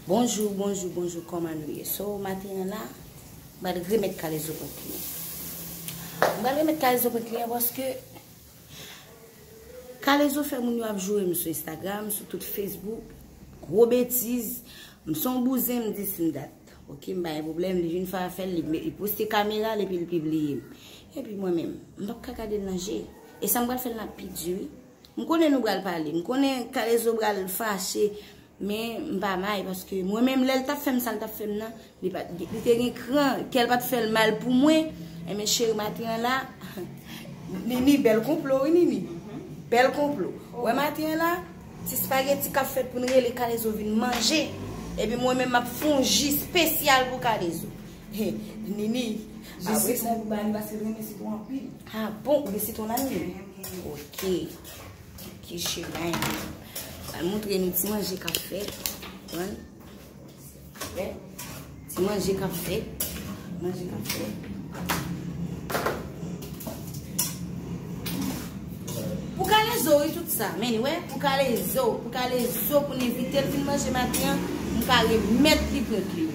Bonjou, bonjou, bonjou, kòman nou ye? So, maten an la? M pral remet kalezo kont kliyan. M pral remet kalezo kont kliyan paske kalezo fè moun yo ap joure m sou Instagram, sou tout Facebook. Gwo betiz. M se yon bouzen, m di si m dat. Ok, m pa gen pwoblèm. Li vin fè afè l, li poste kamera l epi l pibliye m. Epi mwen menm, m pap ka gade l nan je. E sa m pral fè l nan pi di wi. M konnen nou pral pale. M konnen kalezo pral fache. Men m pa may paske mwen menm lèl tap fèm sal tap fèm nan li pat li te gen kran kèl pat fèl mal pou mwen enben cheri maten an la Nini bèl konplo wi Nini bèl konplo wè maten an la ti spageti kap fèt pou nou rele kalezo vin manje epi mwen menm map fon ji spesyal pou kalezo he Nini ji sitwon sa pou bani paske li renmen sitwon anpil ha bon ou gen sitwon la Nini ok ok cheri mayen. Al montre nou ti manje kap fèt. Wan. Fèt. Ti manje kap fèt. Manje kap fèt. Pou kale zo yi tout sa. Men yi wè. Pou kale zo. Pou kale zo pou ni vite. Pou ni manje mati an. Mou kale met li pou kli.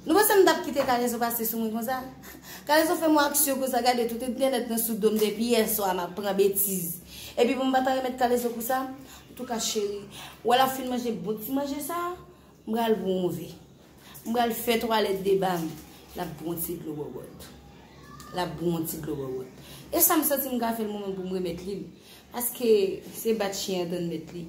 Nou panse m tap kite kalezo pase sou mwen konsa? Kalezo fè m on aksyon konsa gade tout entènèt nan sou dom depi yè swa map pran betiz epi pou m pata remèt kalezo pou sa antouka cheri wè lap fin manje bon ti manje sa m pral bwonze m pral fè twalèt deba m lap bwon ti dlo wòwòt lap bwon ti dlo wòwòt e sa m santi m ka fè l mwen menm pou m remèt li l paske se bat chyen an tann mèt li.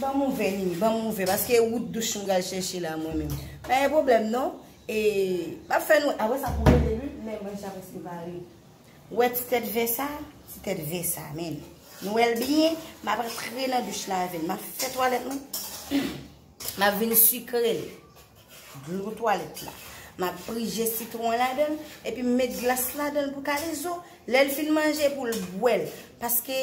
Ban m ouvè Nini, ban m ouvè paske wout douch m pral chèche la mwen menm. Pa gen pwoblèm non. E m ap fè nou, a wè sa pou rele li, men mwen deja prèske pare. Wè ti tèt vè sa? Ti tèt vè sa menm. Nou wè l byen? M ap rantre nan douch la avè l. M ap fè twalèt mwen. M ap vin sikre l. Dlo twalèt la. M ap prije sitwon an ladan l. Epi m met glas ladan l pou kalezo. Lè l fin manje pou l bwè l. Paske.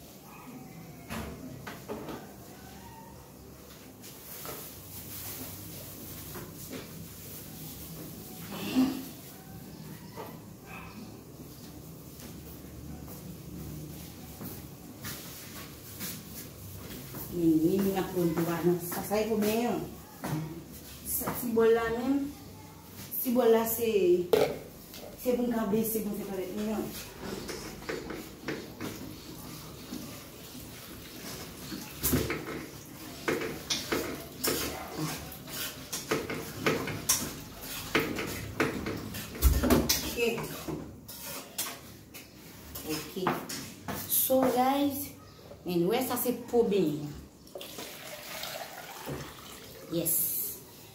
Mwen ap pran yon ti bagay nan sa. Sa e pou mwen an. Sa ti bol la menm. Ti bòl la se se pou n ka bese pou n fè twalèt nou an. Anyway sa se pou benyen. Yes.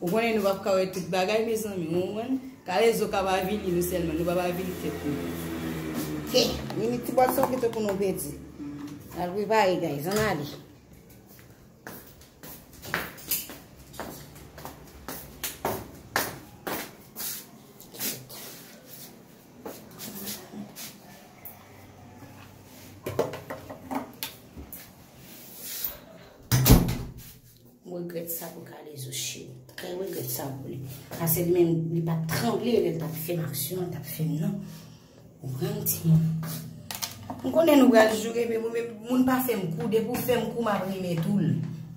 Ou konnen nou pap ka wè tout bagay mezanmi ou konprann? Kalezo kap avili nou sèlman, nou pap avili tèt nou. Ke, mimi ti bòl son pito pou nou pedi. Al prepare guys, an ale. Mregret sa pou kalezo cheri. Mwen mregret sa pou li. Ase li men li pa tranble li pa te fem aksyon li pa te fem nan. Ou pran ti moun. Mwen konnen nou bral joure men mwen pa fem kou. Depi ou fem kou mwen ap reme tou.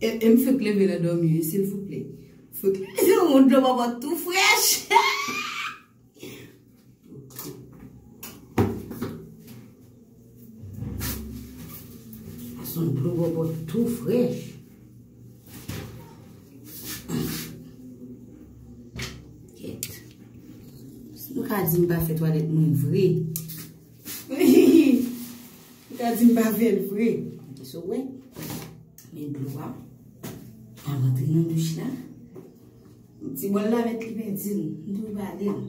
E m fek leve nan domi wi silvouplè. Fek yon dlo bòbò tou frèch. Ason dlo bòbò tou frèch. Kèt. Si nou ka di m pa fè twalet moun vre. Ou ta di m pa vle l vre. Ok so wè. Men dlo a. A rantre nan bouch la. Ti bòl la met li men di m. M tou vale l.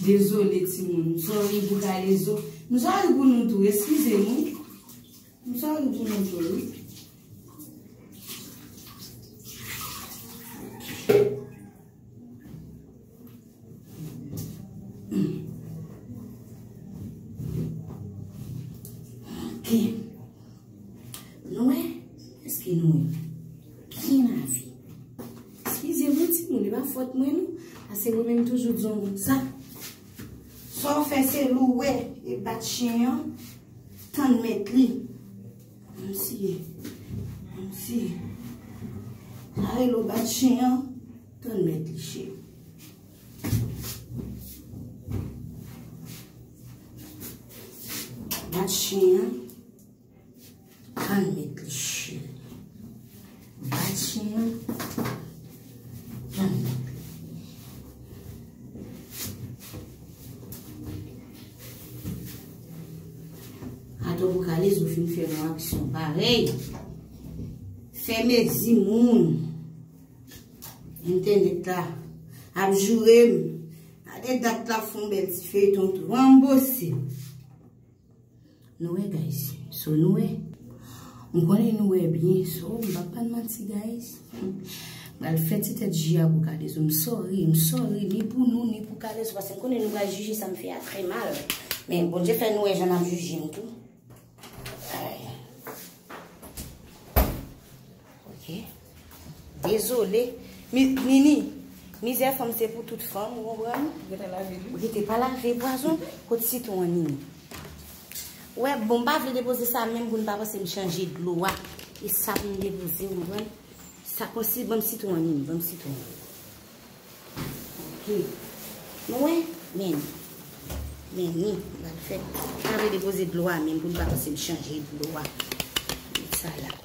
Dezole timoun, m sorry pou Kalezo. M sorry pou nou tou, eskize m wi. M sorry pou nou tou wi. Nwè, eske nwè? Byen lavi. Eskize mwen ti moun, e pa fòt mwen nou, pase mwen menm toujou di yon bout sa. Sa w fè se louwe e bat chyen an, tann mèt li. An siye, an siye. Sa rele w bat chyen an, tann mèt li cheri. Bat chyen an. Ann met lèche. Bat chen an. Ann met. Ato pou kale sou fin fè yon aksyon parèy. Fè mezi moun. Entè net la. Ap joure m. Ate dat la fon bèl ti feyton tou. Anbo se. Nou wè guys so nou wè m konnen nou wè byen so m pa pral manti guys m pral fè ti tèt ji a pou kalezo m sorry m sorry ni pou nou ni pou kalezo paske m konnen nou pral jije sa m fè a trè mal men Bondye fè nou wè jan nap jije m tou. Ok Dezole Nini Mizè fanm se pou tout fanm ou konprann Ou rete pa lave pwazon Kot sitwon an Nini Ou wè bon m pa vle depoze sa menm pou nou pa panse m chanje dlo a E sa pou m depoze ou konprann Sa konsi banm sitwon an Nini banm sitwon an Ok Nou wè Men Men ni m pa vle depoze dlo a menm pou nou pa panse m chanje dlo a Met sa la.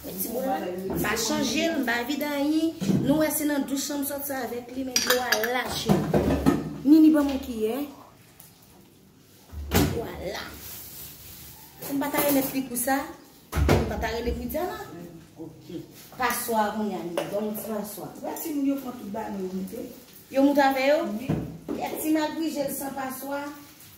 Mwen pa chanje l, m pa vide anyen. Nou wè se nan douch lan m soti avèk li men dlo a lache. Nini ban mwen kiyè. Vwala. Si m pa ta remèt li pou sa, m pa ta rele pou Diana. Ok. Paswa pou Nini. Ban mwen ti paswa. Wè ti moun yo pran tout bagay yo moute. Yo moute avè yo? Wi. Yè ti Magrijel san paswa.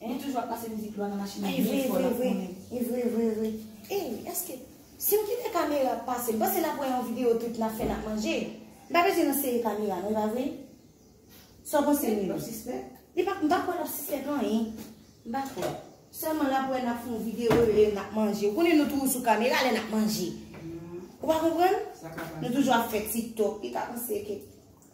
Enh toujou ap pase mizik lwa nan machine an byen fò lap konnen. Evre vre evre Ey eske Sim kite kamera ap pase Mpase nap wè yon video tout nap fè nap manje Li pa bezwen nan seri kamera non epa vre Saw panse Milo? Lap sispèk? Li pa mpa kwè lap sispèk anyen Mpa kwè Sèlman lap wè nap fon video lè nap manje Ou konnen nou toujou sou kamera lè nap manje Ou pa konprann? Nou toujou ap fè tiktok Li ka panse ke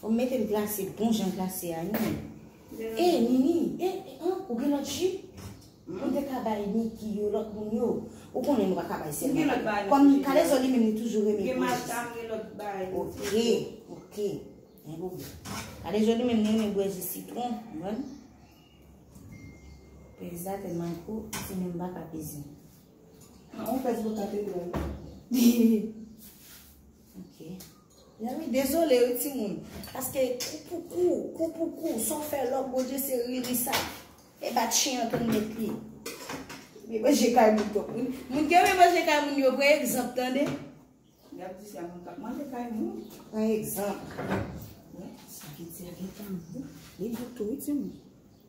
Fòm metel glase bon jan glase a ui. E Nini e an ou gen lòt ju ou te ka bay Niki yo lòt moun yo ou konnen nou pa ka bay sèl nan yo kòm kalezo li menm li toujou renmen gwo jus ok ok gen pou vle kalezo li menm li renmen bwè jus sitron konprann peza telman gwo li menm pa ka peze an ou pèz gwo tanpri bwèl. Ok. Yami dezole wi timoun. Paske kou pou kou, kou pou kou, sa w fè lòk Bondye se riri sa. E bat chen an tou met li. Mwen manje kay moun tou. Moun ki renmen manje kay moun yo pran egzanp tande. Yap di se a moun kap manje kay moun. Pran egzanp. Wè, sa ki di a gen tanbou. Li boutou wi timoun.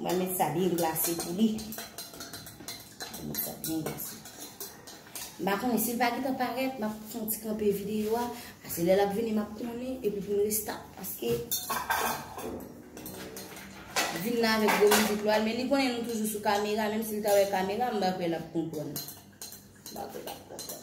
Mwen met sa byen glase pou li. Mwen met sa byen glase. Mba konen si l pa getan paret, map fon ti kanpe videyo a. Ase lè lap vini map konen, epi pou m restart. Paske, vin nan avèk gwo mizik lwa l, men li konen nou toujou sou kamera, menm si l ta wè kamera, mba kwe lap konprann. Mba kwe lap konprann.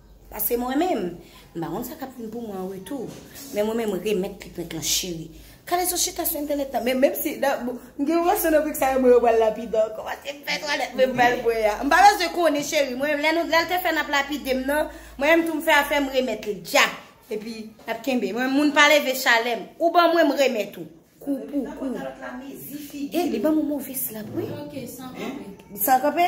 Pase mwen menm. M pa konn sa kap vin pou mwen an retou. Men mwen menm remèt pipent lan cheri. Kalezo chita sou entènèt lan. Men menm si m gen yon gason nan brik sa yo mwen yo pral lapide ankò. Pase m fè twalèt mwen m pral bwè a. M pa bezwen konnen cheri. Mwen menm lè nou lè l te fè nap lapide m nan. Mwen menm tou m fè afè m remèt li djap. Epi nap kenbe. Mwen menm moun pa leve chalè m. Ou ban mwen m remèt ou. Kou pou kou. Nan pantalòt la mezi figi. E li banm yon move slap wi. Ok san kanpe. San kanpe?